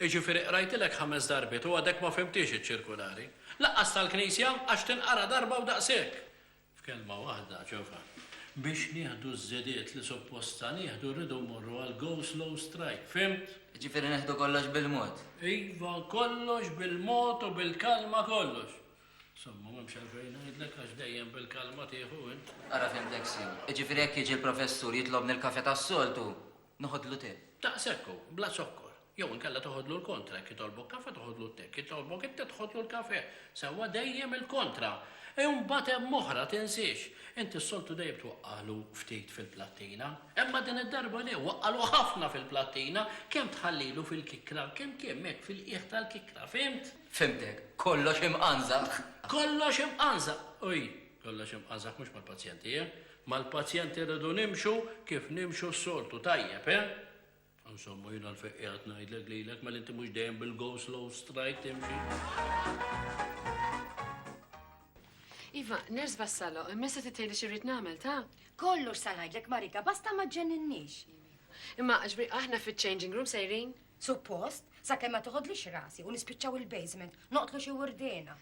Jiġifieri qrajtilek ħames darbiet u għadek ma fhimtiex iċ-ċirkulari? Lanqas tal-Knisja, għax tinqara darba u daqshekk! F'kelma waħda, ġova, biex nieħdu ż-żidiet li suppostna nieħdu rridu mmorru għal go slow strike, fhimt? Jiġifieri neħdu kollox bil-mod? Iva, kollox bil-mod u bil-kalma kollox. Insomma, m'hemmx għalfejn ngħidlek għax dejjem bil-kalma tieħu int. Ara fhimtek sew. Jiġifieri jekk jiġi l-professur jitlobni l-kafè tas-soltu, Noħodlu te. Ta' sekku, bla zokkor. Jew inkella toħodlu l-kontra, jekk jitolbok kafe toħodlu t-te, jekk jitolbok it-te tħodlu l-kafe. Sewwa dejjem il-kontra. E mbagħad hemm oħra, tinsiex. Inti s-soltu dejjem twaqqagħlu ftit fil-plattina. Imma din id-darba le, waqqagħlu ħafna fil-plattina, kemm tħallilu fil-kikra, kemm kemm hekk fil-qiegħ tal-kikra, fhimt? Fhimtek. Kollox imqanżaq. Kollox imqanżaq! Ui, kollox imqanżaq mhux mal-pazjenti, eh? Mal-pazjent irridu nimxu kif nimxu s-soltu, tajjeb, eh? Insomma, jien għalfejn qiegħed ngħidlek lilek mela inti mhux dejjem bil-go slow strike timxi. Iva, ners bassalo, imma se titgħidli xi rrid nagħmel ta'? Kollox sa ngħidlek Marika, basta ma ġenninniex. Imma ġbri aħna fiċ-changing room sejrin? Suppost, sakemm ma toħodlix rasi u nispiċċaw il-basement, noqtlu xi wurdena.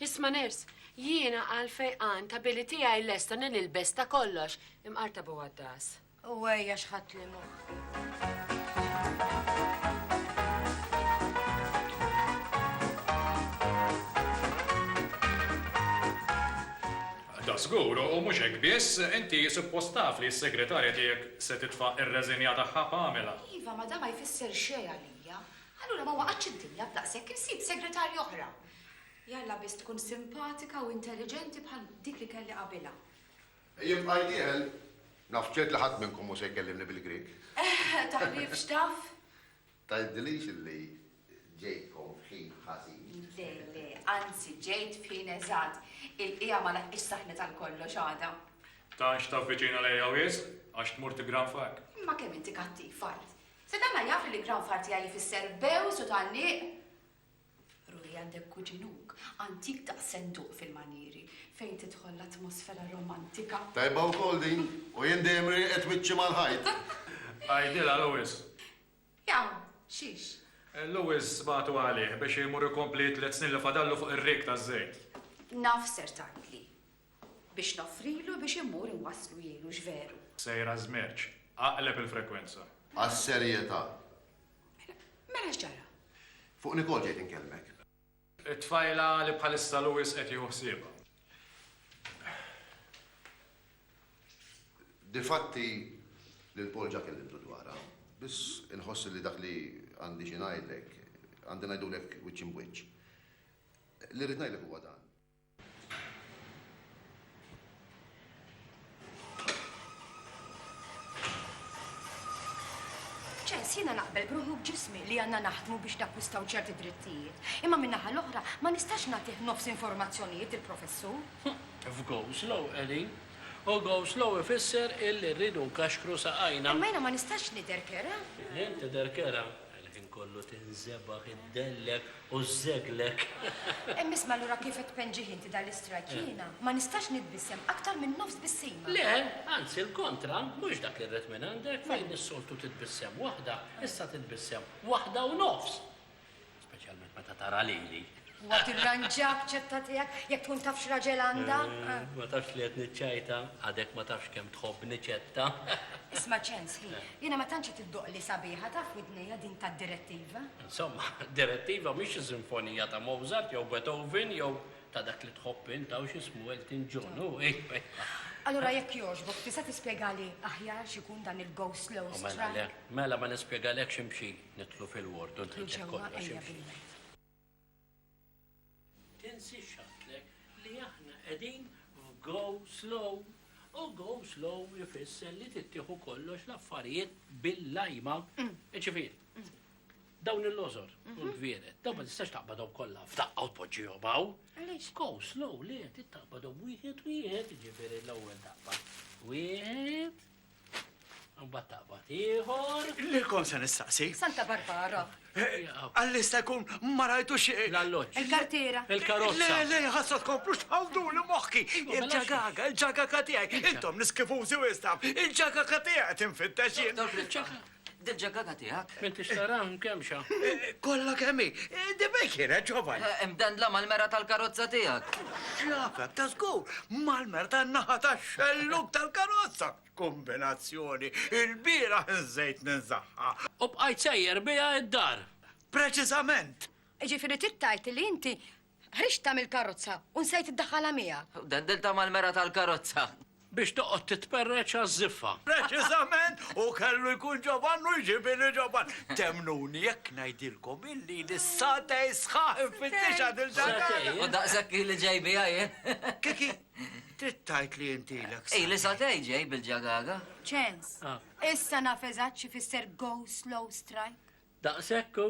Isma ners, jiena għal fejqan ta' billi tiegħi lesta nil ilbes ta' kollox imqarta bu għaddas. U għajja xħat li mu. Da żgur, u mhux hekk biss, inti suppost taf li s-segretarja tiegħek se titfa' ir-reżinja tagħha pamela. Iva, ma da ma jfisser xejn għalija. Allura ma waqgħatx id-dinja b'daqs jekk insib segretarja oħra. Jalla biss tkun simpatika u intelliġenti bħal dik li kelli qabilha. Jien bqajt dieħel, naf ċert li ħadd minnkom mhux se jkellimni bil-Grieg. Eh, taħlif x'taf? Tgħidilix illi ġejtkom f'ħin ħażin. Le, le, anzi ġejt f'ħin eżatt. Il-qija ma laħqix saħna tal-kollox għada. Tanx taf viċina lejja wis, għax tmur tigranfak. Imma kemm inti kattiv fajt. Se tagħmel jaf li l-granfar tiegħi jfisser bewż u tgħalliq? Ruhi għandek kuġinuk antik daqs senduq fil-manjieri fejn tidħol l-atmosfera romantika. Tajba wkoll din, u jien dejjem rieqed wiċċi mal-ħajt. Għidilha Louis. Jaaw, xiex? Louis bagħtu għalih biex imur ikompli t-tliet snin li fadallu fuq ir-rig taż-żejt. Naf ser tgħidli. Biex noffrilu biex immur inwasslu jien, hux veru? Sejr għaż-żmerċ. Aqleb il-frekwenza. Għas-serjetà. Mela x'ġara? Fuq Nicole ġejt inkellmek. It-tfajla li bħalissa Louis qed jieħu ħsiebha. Difatti, lil Paul ġa kellimtu dwarha. Biss inħoss li dak li għandi xi ngħidlek, għandi ngħidulek wiċċ imb wiċċ. Li rrid ngħidlek huwa dan. Ċes, jiena naqbel bruħu b'ġismi li għanna naħdmu biex nakkwistaw ċerti drittijiet. Imma minnaħa l-oħra ma nistax nagħtih nofs informazzjonijiet il-professur. F'go slow, Eli. U go slow ifisser illi rridu nkaxkru saqajna. Imma jiena ma nistax nidher kera. Jien tidher kera. Il-ħin kollu tinżebaħ, iddellek u żżeglek. Hemm isma' allura kif qed tpenġih inti dan l-istrajk eh. jiena ma nistax nitbissem aktar minn nofs bissima. Le, anzi l-kontra, mhux dak irrid minn għandek eh. fejn is-soltu titbissem waħda, issa titbissem waħda u nofs. Speċjalment meta tara lili. Huwa tirranġa b'ċetta tiegħek, jekk tkun taf x'raġel għandha. Ma tafx li qed niċċajta, għadek ma tafx kemm tħobbni ċetta. Isma' ċens, ħi, jiena ma tantx qed iddoqli sabiħa taf widnejja din tad-direttiva. Insomma, direttiva mhix sinfonija ta' Mozart jew Beethoven jew ta' dak li tħobb int hawn x'ismu Elton John, hu, ejja. Allura jekk jogħġbok tista' tispjegali aħjar x'ikun dan il-go slow strike? Mela le, mela ma nispjegalekx imxi nidħlu fil-ward u ngħidlek kollox. Ejja bil-mod. Tinsiex għattlek li aħna qegħdin f'go slow u go slow ifisser li tittieħu kollox l-affarijiet bil-lajma. Ġifieri, dawn il-lożor u mhm. l-gvieret, dawn ma tistax taqbadhom kollha f'daqqa u tpoġġihom hawn. Go slow li qed taqbadhom wieħed wieħed, ġifieri l-ewwel taqbad. Wieħed, Mbagħad taqbad ieħor. Lil kon se nistaqsi. Santa Barbara. Eh, Għallista jkun ma rajtu xi. Eh, L-alloġġ. Il-kartiera. Il-karozza. Le, le, ħassa tkomplu xħawdu li moħħi. Il-ġagaga, il-ġagaga tiegħi. Intom niskifużi wistam. Il-ġagaga tiegħi tinfittex jien. Dil ġaggaga tiegħek. M'intix tara mkemxa. Kollha kemm hi. Dibek kienet ġovan. Imdendla mal-mera tal-karozza tiegħek. X'jafek ta' żgur mal-mera tan-naħa tax-xellug tal-karozza. Kombinazzjoni, il-bieraħ inżejt ninżagħha. U bqajt sejjer biha d-dar. Preċiżament. Jiġifieri trid tgħid li inti Ħriġtha mill-karozza u nsejt iddaħħalha miegħek. Dendiltha mal-mera tal-karozza. Biex toqgħod titperreċ għaż-żiffa. Preċiżament, hu kellu jkun Ġovann u jġibili Ġovann. Temmnuni jekk ngħidilkom illi li satej sħaħ infittixha din xaħġa. U daqshekk ili ġej biha jien. Kiki, trid tgħid li int ilek satej. Ili satej ġej bil-ġagaga. Ċens, issa naf eżatt x'ifisser go slow strike. Daqshekk hu.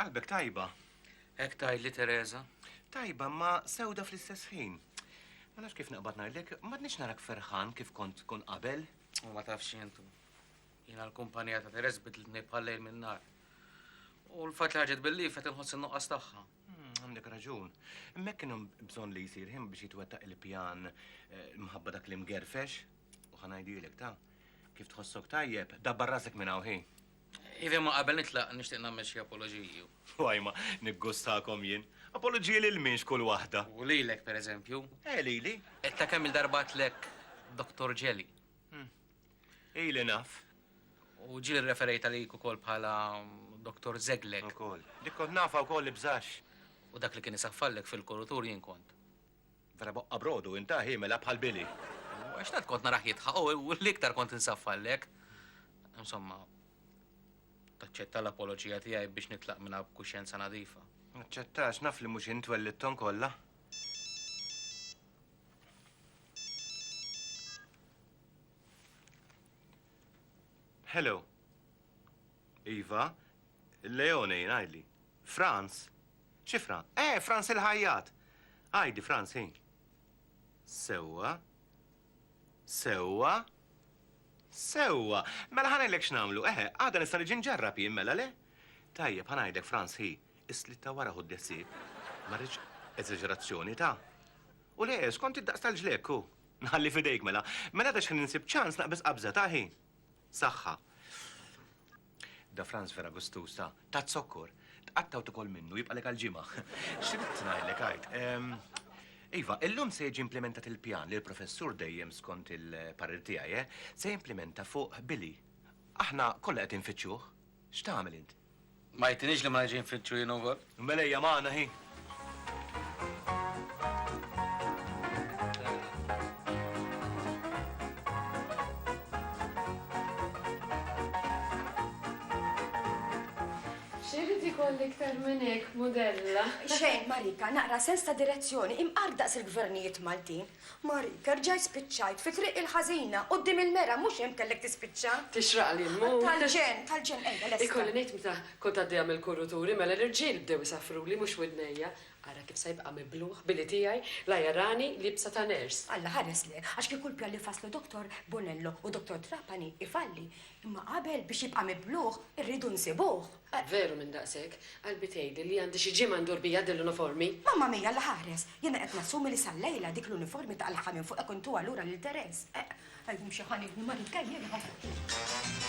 Qalbek tajba. Hekk tgħidli Teresa? Tajba ma sewda fl-istess ħin. Ma nafx kif naqbad ngħidlek, m'għadniex narak ferħan kif kont tkun qabel. U ma tafx jentu. Jiena l-kumpanija ta' Teresa bidlitni bħal-lejl min-nar. U l-fatt li ħarġet bil-lif qed inħoss in-nuqqas tagħha. Hmm, għandek raġun. Imma kienu bżonn li jsir ħin biex jitwettaq il-pjan eh, mħabba dak li mgerfex. U ħanajdilek ta' kif tħossok tajjeb, dabbar rasek minn hawn Iva ma qabel nitlaq nixtieq nagħmel xi apoloġiji. Waj ma niggustakom jien. Apoloġiji lil min x'kull waħda? U lilek pereżempju? Eh, lili. Ta' kemm-il darba għedtlek Doktor Ġeli. Hmm. Ili naf. U ġieli rreferejt għalik ukoll bħala Doktor Żeglek. Ukoll. Dik kont nafha wkoll ibżax. U dak li kien isaffallek fil-kurutur jien kont. Vera boqqa brodu, inta ħiemela bħal Billy. Għax tant kont narah jidħaq u l-iktar kont insaffallek. Insomma, taċċetta l-apoloġija tiegħi biex nitlaq minna b'kuxjenza nadifa. Naċċettax, naf li mhux int twellidthom kollha. Hello. Iva, Leone, ngħidli. Franz? Xi Fra? Eh, Franz il-ħajjat! Għidi, Franz, hi. Sewwa. Sewwa. Sewwa. Mela ħanajlek x'namlu, eħe, eh, għada nista' niġi nġarrab jien mela le? Tajjeb, ħanajdek Franz hi, is-slitta wara ħud desib. Marriċ eżaġerazzjoni ta' U le, skont id-daqs tal-ġlekku. Nħalli fidejk mela. Mela ta xħin insib ċans naqbis qabża taħi. Saħħa. Da Franz Ferragustu sa tat zokkor, tqatta' u tikol minnu jibqalek għal ġimgħa. X'ridt ngħidlek għid? Iva, illum se jiġi implimentat il-pjan li l-professur dejjem skont il-parir tiegħi, eh, se jimplimenta fuq Billy. Aħna kollha qed infittxuh. X'tagħmel int? Ma jgħidtinix li ma nix infittxu jien ukoll? Mela hija magħna hi. X'irrid ikoll iktar minn hekk, mudella? Xejn, Marika, naqra sens ta' direzzjoni, imqar daqs il-gvernijiet Maltin. Mariker, ġaj spiċċajt fi triq il-ħażina, quddiem il-mera, mhux hemm kellek tispiċċa. Tixraqli nmut. Tal-ġenn, tal-ġenn, ejja lesta. Ikolli ngħid meta kont għaddejja mill-kurruturi mela l-irġiel bdew isaffruli mhux widnejja. Ara kif sa jibqa' mibluħ billi tiegħi la jarani liebsa ta' nurse. Alla ħares le, għax kieku l-pjan li fasslu Doktor Bonello u Doktor Trapani jfalli, imma qabel biex jibqa' mibluħ irridu nsibuh. Ah, veru minn daqshekk. Qalbi tgħidli li għandi xi ġimgħa ndur bija din l-uniformi. Mamma mia, Alla ħares! Jiena qed nassumi li sal-lejla dik l-uniformi taqlagħha minn fuq hekk u ntuha lura lil Therese. Eh, qalbi mxi ħa nieħu l-marid kejjilha.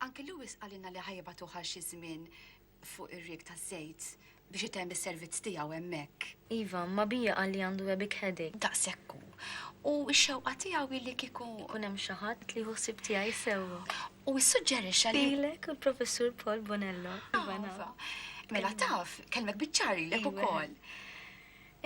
Anke Lewis qalilna li ħa jibagħtuh għal xi żmien fuq ir-rieg taż-żejt biex itemm is-servizz tiegħu hemmhekk. Iva, imma bija qal li għandu a big headache. Daqshekk hu. U x-xewqa tiegħu hi li kieku. Ikun hemm xi ħadd li jieħu ħsieb tiegħi sewwa. U issuġġerixxa li. Lilek u l-Professur Paul Bonello. Iva, naf. Mela taf, kellmek biċ-ċar lilek ukoll.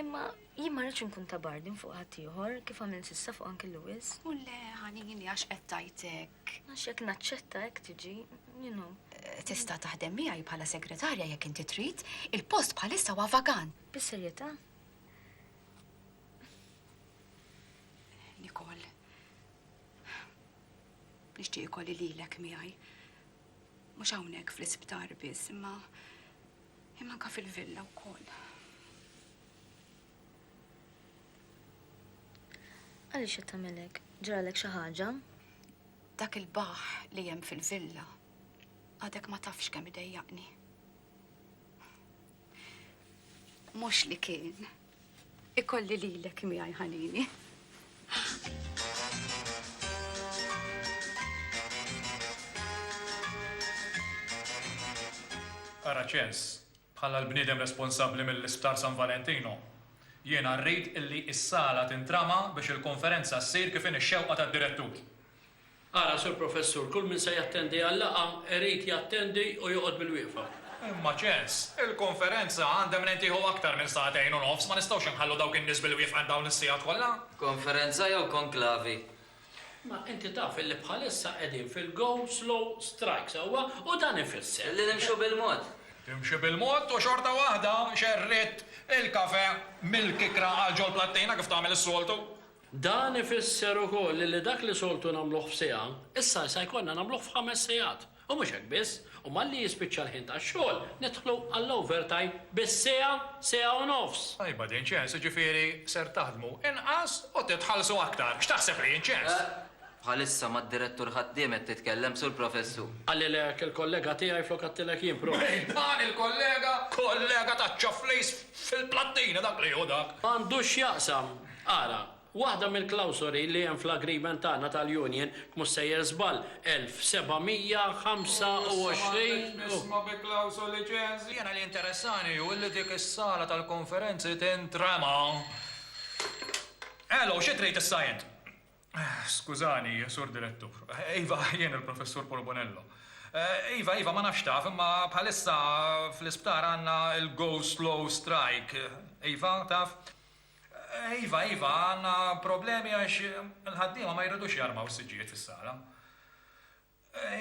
Imma Jien ma rridx inkun ta' burden fuq ħaddieħor, kif għamilt s'issa fuq Uncle Lewis. U le, ħanini, għax qed tgħid hekk. Għax jekk naċċetta hekk tiġi, you know. Eh, tista' taħdem miegħi bħala segretarja jekk inti trid, il-post bħalissa huwa vagan. Bis-serjetà? Nikol, nixtieq ikolli lilek miegħi. Mhux hawnhekk fl-isptar biss, imma Imma anka fil-villa wkoll. Għaliex qed tagħmel hekk? Ġralek xi ħaġa? Dak il-baħ li hemm fil-villa għadek ma tafx kemm idejjaqni. Mhux li kien Ikolli lilek miegħi ħanini. Ara ċens, bħala l-bniedem responsabbli mill-Isptar San Valentino, jiena rrid illi s-sala tintrama biex il-konferenza ssir kif inhi x-xewqa tad-direttur. Ara, Sur Professur, kull min se jattendi għal-laqgħa irid jattendi u joqgħod bil-wieqfa. Imma, Ċens, il-konferenza għandha mnejn tieħu aktar minn sagħtejn u nofs, ma nistgħux inħallu dawk in-nies bil-wieqfa għal dawn is-sigħat kollha. Konferenza jew konklavi? Ma inti taf illi bħalissa qegħdin fil-go slow strike, sewwa? U dan ifisser. Illi nimxu bil-mod. Timxi bil-mod u xorta waħda xerridt il-kafè mill-kikra għal ġol-plattina kif tagħmel is-soltu. Dan ifisser ukoll li dak li soltu nagħmluh f'siegħa, issa se jkollna nagħmluh f'ħames sigħat. U mhux hekk biss, u malli jispiċċa l-ħin tax-xogħol, nidħlu għall-overtime bis-siegħa, siegħa u nofs! Tajba din, ċens, jiġifieri ser taħdmu inqas u titħallsu aktar. X'taħseb li jien, ċens? Eh, bħalissa mad-direttur ħaddiem qed titkellem, Sur Professur. Qalilek il-kollega tiegħi flok għedtilek jien, Prof. Min dan il-kollega? Kollega taċċa flejs fil-plattina dak li hu dak! M'għandux x'jaqsam, Ara, waħda mill-klawsoli li hemm fl-agreement tagħna tal-union, jekk mhux sejjer żball, 1725 u. X'isma x'isma bi klawsoli ċens? Jiena li jinteressani hu li dik is-sala tal-konferenzi tintrema. Elo, xi trid issa int? Skużani, Sur Direttur. Iva, jien il-Professur Porbonello. Iva, iva, ma nafx taf, imma bħalissa fl-isptar għandna l-go slow strike. Iva, taf? Iva, iva, għandna problemi għax il-ħaddiema ma jridux jarmaw is-siġġijiet fis-sala.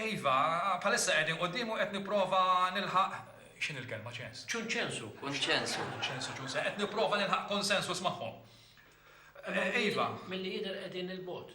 Iva, bħalissa qegħdin quddiem u qed nipprova nilħaq, x'inhi l-kelma, ċens? Ċunċensu, kunċensu. Kunċensu, ċunse, qed nipprova nilħaq konsensus magħhom. Iva. Milli jidher qegħdin 'il bogħod.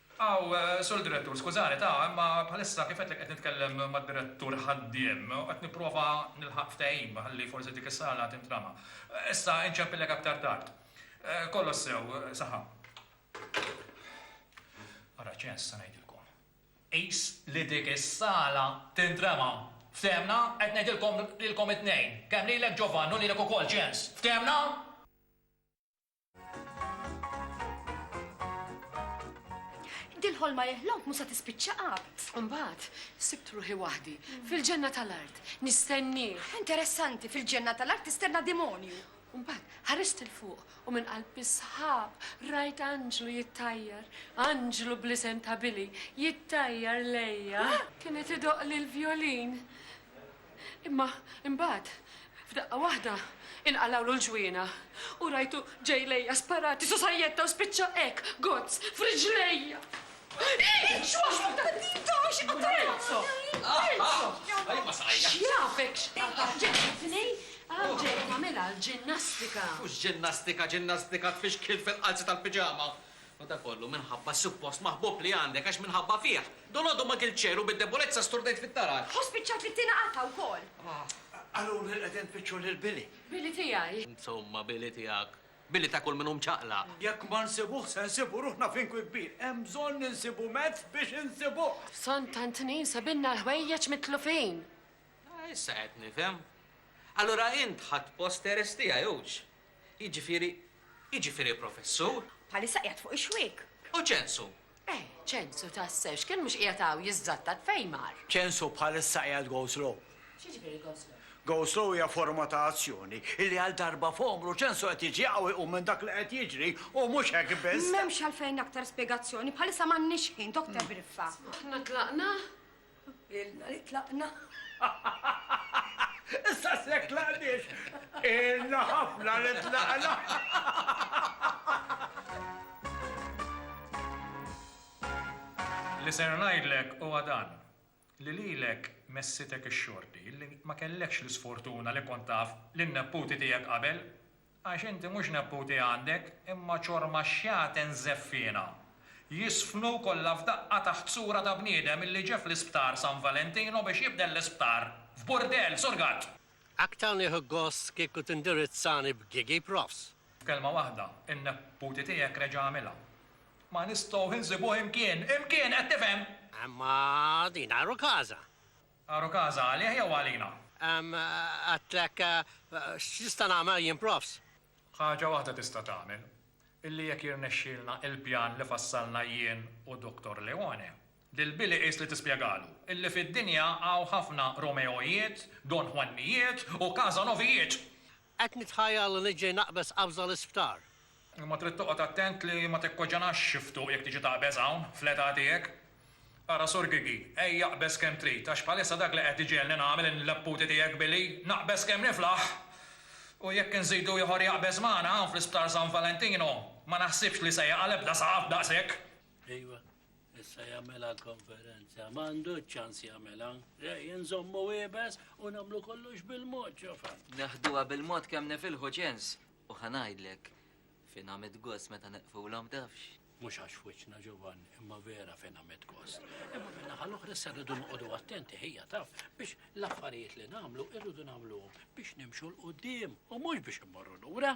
Aw, Sur Direttur, skużani, ta, imma bħalissa kif għedtlek qed nitkellem mad-Direttur ħaddiem u qed nipprova nilħaq ftehim ħalli forsi dik is-sala tintrama. Issa inċempillek aktar tard. Kollox sew, saħħa. Ara ċens se ngħidilkom. Qis li dik is-sala tintrema. Ftehemna? Qed ngħidilkom lilkom it-tnejn. Kemm lilek Ġovann u lilek ukoll ċens. Ftehemna? Dil-ħolma jeħlok musa tispiċċa qab. Imbagħad, sibt ruħi waħdi, fil-ġenna tal-art, nistenni. Interessanti, fil-ġenna tal-art tistenna demonju. Imbagħad, ħarist il-fuq u minn qalb bisħab rajt anġlu jittajjar, anġlu blisem ta' Billy, jittajjar lejja. Kienet idoq li l-vjolin. Imma imbagħad, f'daqqa waħda, inqalgħulu l-ġwiena u rajtu ġej lejja sparati su sajjetta u spiċċa hekk, gozz, f'riġlejja! X'jafek x'qatgħat? Ġejt it-Tnejn hawn ġejt nagħmilha l-ġinnastika. Mhux ġinnastika, ġinnastika tfixkil fil-qalzi tal-piġama. Madakollu, minħabba s-suppost maħbub li għandek, għax minħabba fih, dolodu ma kilt xejn u bid-debolezza sturdejt fit-taraġ. U spiċċajt fit-tieni qatgħa wkoll. Qaluli li qegħdin tfittxu lil Billy. Billy tiegħi? Insomma, Billy tiegħek. Billy ta' kull min hu mċaqlaq. Jekk ma nsibuh, se nsibu ruħna f'inkwi kbir. Hemm bżonn insibu mezz biex insibuh. B'sonn ta' tnin sebilna l-ħwejjeġ mitlufin. Issa qed nifhem. Allura int ħadt post Teres tiegħi, hux? Jiġifieri, jiġifieri professur? Bħalissa qiegħed fuq ix-xwiek. U Ċensu? Eh, Ċensu tassew, x'kien mhux qiegħed hawn jiżżattat fejn mar? Ċensu bħalissa qiegħed go slow. X'jiġifieri go slow? Go slow hija forma ta' azzjoni illi għal darba f'għomru Ċensu qed jiġi jaqaw iqum minn dak li qed jiġri u mhux hekk biss. M'hemmx għalfejn aktar spjegazzjoni, bħalissa m'għandniex ħin, Doktor Briffa. Aħna tlaqna? Ilna li tlaqna. Issa se jekk tlaqniex, ilna ħafna li tlaqna. Li ser ngħidlek huwa dan, li lilek messitek ix-xorti, li ma kellekx l-isfortuna li kont taf lin-nepputi tiegħek qabel. Għax inti mhux nepputi għandek, imma ċorma xjaten żeffiena. Jiżfnu kollha f'daqqa taħt sura ta' bniedem illi ġie fl-isptar San Valentino biex jibdel l-isptar f'burdell, Sur Gatt! Aktar nieħu gost kieku tindirizzani b'Gigi Profs. F'kelma waħda, in-nepputi tiegħek reġa' għamilha. Ma nistgħux insibuh imkien! Imkien, qed tifhem? Imma din għar-rukaża! Għaru każa għalih jew għalina? Ehm, għedtlek, x'nista' nagħmel jien profs? Ħaġa waħda tista' tagħmel, illi jekk jirnexxielna il-pjan li fassalna jien u Dottor Leone, lil Billy qis li tispjegalu illi fid-dinja hawn ħafna Romeojiet, Don Juannijiet u Casanovijiet! Qed nitħajjar li niġġi naqbeż qabża l-isptar. Imma trid toqgħod attent li ma tikkoġenax xi ftuq jekk tiġi taqbeż hawn, fl-età tiegħek. Ara Sur Gigi, ejja aqbeż kemm trid, għax bħalissa dak li qed iġegħelni nagħmel il-nepputi tiegħek billi naqbeż kemm niflaħ! U jekk inżidu ieħor jaqbeż magħna hawn fl-Isptar San Valentino, ma naħsibx li se jaqa' l-ebda saqaf daqshekk! Ejwa, Issa jagħmilha konferenza, ma għandu ċans jagħmilha. Rej, nżommu ibes u nagħmlu kollox bil-mod ġofa. Naħduha bil-mod kemm nifilħu ċens u ħanajdlek fin għamid gost meta neqfulhom tafx. Mhux għax fuċna ġovan, imma vera fin għamid gost. Imma minna ħal-oħra se rridu noqogħdu attenti ħija taf biex l-affarijiet li nagħmlu irridu nagħmluhom biex nimxu l-qudiem u mhux biex immorru lura.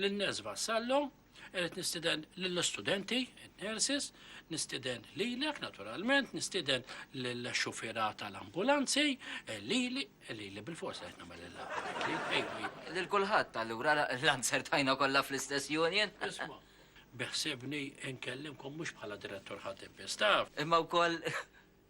Lin-Nurse Vassallo, irid nistieden lill-istudenti, in-nurses, nistieden lilek naturalment, nistieden lill-xufiera tal-ambulanzi, lili, lili bil-fors qed nagħmel il-laqgħa. Lil kulħadd allura l-answer tajna kollha fl-istess union. Isma', beħsiebni nkellimkom mhux bħala direttur ħaddim biss, taf. Imma wkoll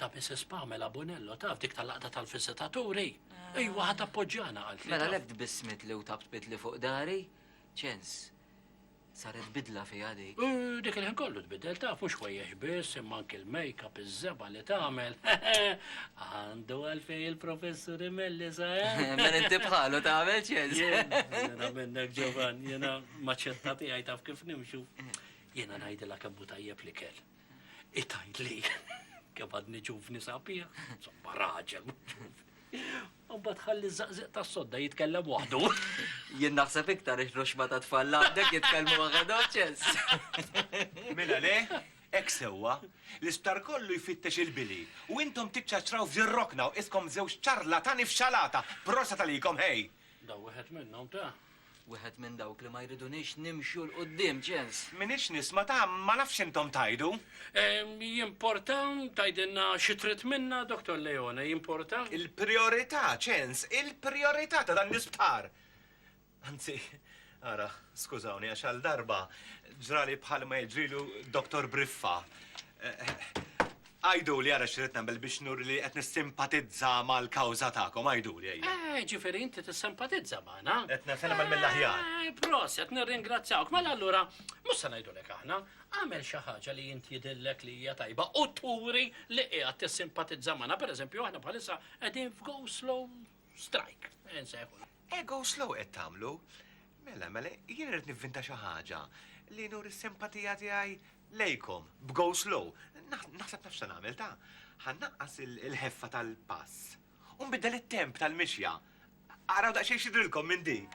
Ta' Mrs. Pamela Bonello, taf dik tal-laqda tal-viżitaturi? Ejwa, ħat appoġġjana għal Mela lek tbissmit li u tabt bidli fuq dari, ċens. Saret bidla fija di. Dik il-ħin kollu tbidel ta' fux xwejjex biss, imma anki l-make-up iż-żeba li tagħmel. Għandu għalfej il-professur imelli sa' eh? Mela inti bħalu tagħmel ċens. Jena minnek ġovan, jena maċċetta tiegħi taf kif nimxu. Jena ngħidilha kemm tajjeb li kell. Itajt li kemm għadni ġuvni sabiħ, somma raġel ġuvni. U bat ħalli zaqziq ta' sodda jitkellem waħdu. Jien naħseb iktar iħrox ma ta' tfalla għandek jitkellmu għagadoċes. Mela le, ek sewa, l-isptar kollu jfittex il-bili u intom tiċċaċraw f'dirrokna u iskom zewġ ċarlatani f'xalata, prosa talikom hej! Da wieħed minnhom ta. Wieħed minn dawk li ma jridunix nimxu 'l quddiem, ċens. M'iniex nisma' ta, ma nafx intom tgħidu. Jimporta tgħidilna xi trid minna, Dottor Leone, jimporta? Il-prijorità, ċens, il-prijorità ta' dan l-isptar! Anzi, Ara, skużawni, għax għal darba ġrali bħal ma jiġrilu Doktor Briffa. Għajdu li għara xirrit nagħmel biex nur li qed nissimpatizza mal-kawża tagħkom, għajdu li għajja. Eh, ġifieri inti tissimpatizza magħna. Qed nagħmel eh, mill-aħjar. Proset, nirringrazzjawk, mela allura mhux se ngħidulek aħna, għamel xi ħaġa li inti jidillek li hija tajba u turi li qiegħed tissimpatizza magħna, pereżempju aħna bħalissa qegħdin f'go slow Strajk, nsejħu. Ego slow qed tagħmlu. Mela, mela, jien irid nivvinta xi ħaġa li nur is-simpatija tiegħi lejkom b'go slow. Naħseb nafx se nagħmel ta' ħannaqqas il-ħeffa tal-pass. U nbiddel it-temp tal-mixja. Araw daqsxejn xidrilkom minn dik.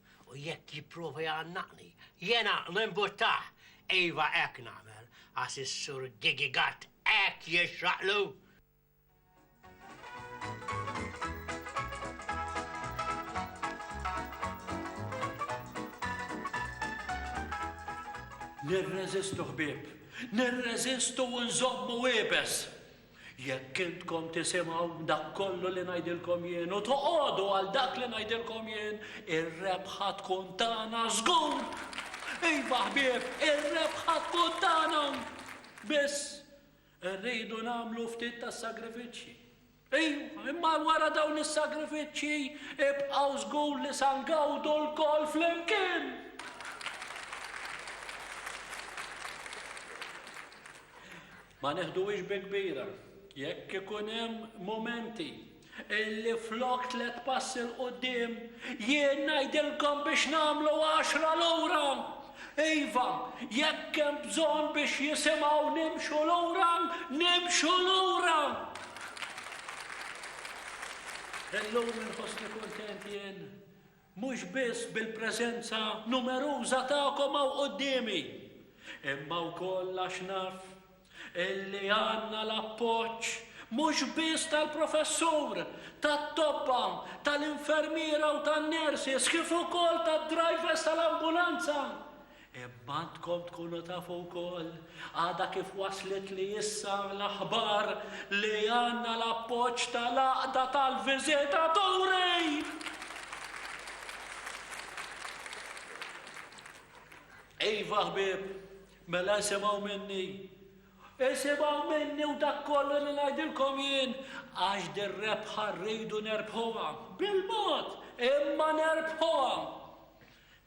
U jekk jipprova jgħannaqni, jiena nimbuttah! Iva hekk nagħmel, għax is-Sur Gigi Gatt hekk jixraqlu! Nirreżistu ħbieb, nirreżistu u nżommu iebes! Jekk intkom tisimgħu dak kollu li ngħidilkom jien u toqogħdu għal dak li ngħidilkom jien, ir-rebħa tkun tagħna żgur! Iva ħbieb, ir-rebħa tkun tagħna! Biss, irridu nagħmlu ftit tas-sagrifiċċji. Iva, imma wara dawn is-sagrifiċċji ibqgħu żgur li sa ngawdu lkoll flimkien! Ma neħduhiex bi kbira jekk ikun hemm mumenti illi flok tliet passi 'l quddiem jien ngħidilkom biex nagħmlu għaxra lura. Iva, jekk hemm bżonn biex jisimgħu nimxu lura, nimxu lura! Illum inħossni kuntent jien mhux biss bil-preżenza numeruża tagħkom hawn quddiemi, imma wkoll għax naf illi għandna l-appoġġ mhux biss tal-professur, tat-tobba, tal-infermiera u tan-nurses kif ukoll tad-drivers tal-ambulanza Imma għandkom tkunu tafu wkoll għadha kif waslitli issa l-aħbar li għandna l-appoġġ tal-Għaqda tal-Viżitaturi! Iva ħbieb, mela isimgħu minni. Isimgħu minni u dak kollu li ngħidilkom jien għax dir-rebħa rridu nerbħuha bil-mod imma nerbħuha.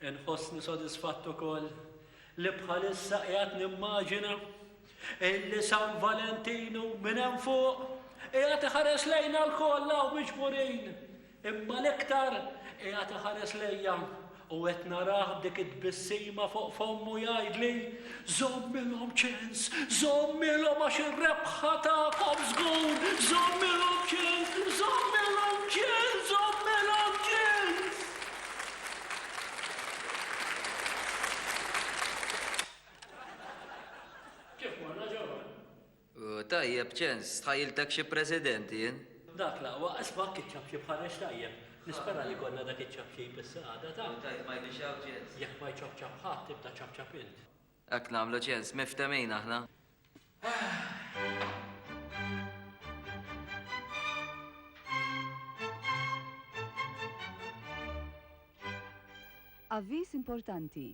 Inħossni sodisfatt ukoll li bħalissa qiegħed nimmaġina illi San Valentinu minn hemm fuq qiegħed iħares lejna lkoll hawn miġburin, imma l-iktar qiegħed iħares lejja u qed narah b'dik it-tbissima fuq fommu jgħidli żommilhom ċens, żommilhom għax ir-rebħa tagħkom żgur, żommilhom ċens, żommilhom ċens, żommilhom ċens. Kif morna ġewwa? Tajjeb, ċens, tħajjiltek xi president jien. Dak l-aqwa, isma' kiċċab xi bħareġ tajjeb. Nispera li jkollna dak iċ-ċapċip issa għada ta'. Tajjeb ma jbixxaw ċens. Jekk ma jċapċap ħadd, tibda ċapċap int. Hekk nagħmlu ċens, miftehmin aħna. Avviż importanti.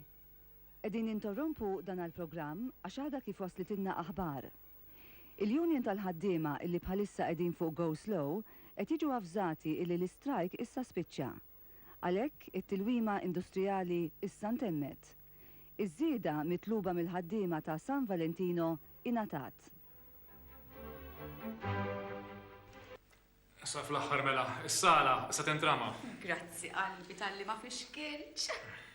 Qegħdin nintorrompu dan għall-programm għax għadha kif waslitilna aħbar. Il-union tal-ħaddiema illi bħalissa qegħdin fuq go slow qed jiġu avżati illi l-istrajk issa spiċċa. Għalhekk, it-tilwima industrijali issa ntemmet. Iż-żieda mitluba mill-ħaddiema ta' San Valentino ingħatat. Sa fl-aħħar mela, is-sala issa tintrama. Grazzi qalbi talli ma fixkiltx.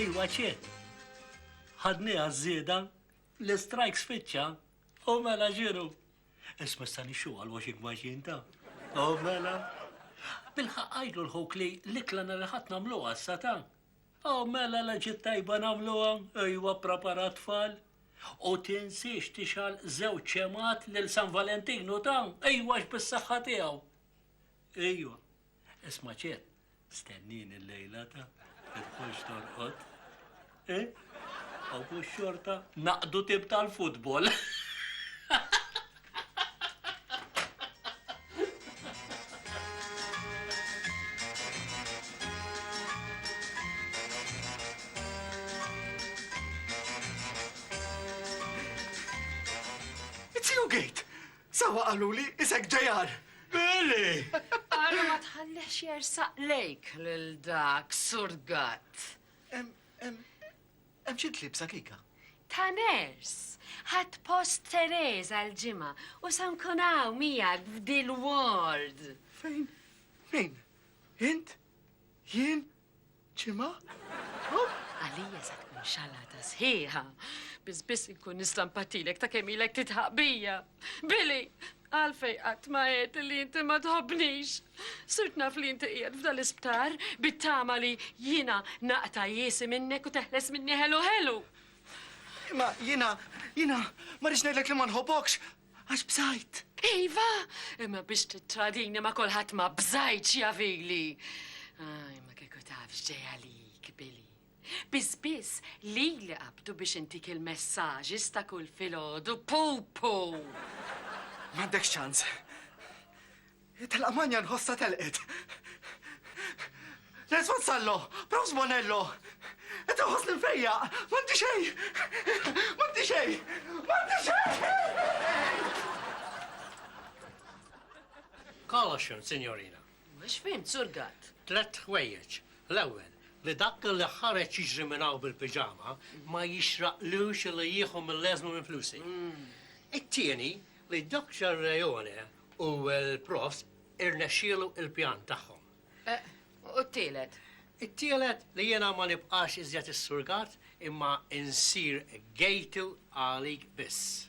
Iwa ċe, ħadniha ż-żieda, l-istrajk spiċċa u mela ġiru. Isma' issa nixxu għal washing machine ta'. O mela. Bilħaqq għidlu l-ħuk li l-ikla nhar il-Ħadd nagħmluha issa ta'. O mela la ġiet tajba nagħmluha, ejwa prapara t-tfal. U tinsiex tixgħal żewġ xemgħat lil San Valentinu ta', ejwa għax bis-saħħa tiegħu. Ejwa. Isma' ċiet. Stennini l-lejla ta' tidħolx torqod. Eh? Aw mhux xorta naqdu tib tal-futbol. It's you, Gate! Sewwa qaluli isek JR. Billy! Ara ma tħallihx jersaq lejk lil dak surgat. Hemm xi tlibsa kika? Ta' ners. Ħadd post Teresa l-ġimgħa u se nkun hawn miegħek f'dil-ward. Fejn? Min? Int? Jien? Ġimgħa? Huh, għalija se tkun xalata sħiħa. Biss biss inkun nista' npatilek ta' kemm ilek tidħaq bija. Billy, għalfej qatt ma għedt li inti ma tħobbnix. Sirt naf li inti qiegħed f'dan l-isptar bit-tama li jiena naqta' jiesi minnek u teħles minni ħelu ħelu. Ma jiena, jiena ma rridx ngħidlek li ma nħobbokx, Għax bżajt. Iva, imma biex tittradini ma kulħadd ma bżajtx javili. Aj, ma kieku taf x'ġej għalik, Billy. Biss biss li li qabdu biex intik il-messaġi sta kull filgħodu pupu. M'għandek ċans. Telaq Manja nħossha telqet. Nens Vassallo, Prof Sbonello, qed inħossni mfejjaq, m'għandi xejn! M'għandi xejn! M'għandi xejn! Caution, Sinjorina. Mhux fhimt, Sur Gatt. Tlett ħwejjeġ. L-ewwel, li dak li ħareġ jiġri minn hawn bil-piġama ma jixraqlux li jieħu mill-eżma minn flusi. It-tieni, li Doctor Reone U l-profs irnexxielu l-pjan tagħhom. Eh, u t-tielet? It-tielet li jiena ma nibqax iżjed is-surgat imma insir gejtu għalik biss.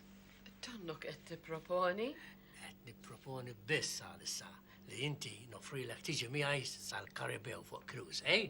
Tonnok qed tipproponi? Qed nipproponi biss għalissa li inti nofrilek tiġi miegħi sal-Karibew fuq cruise, eh?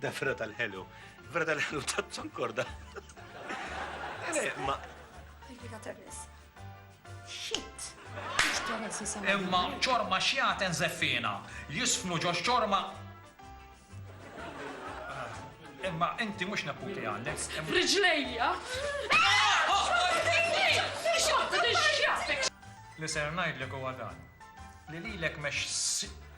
Da ferra tal-ħelu. Ferra tal-ħelu ta' ċankorda. Ma. Fika Ternis. Shit. Imma ċorma xjaten zeffina. Jisfnu ġox ċorma Imma inti mhux neputi għandek. Riġlejja! Li ser ngħidlek huwa dan. Li lilek mex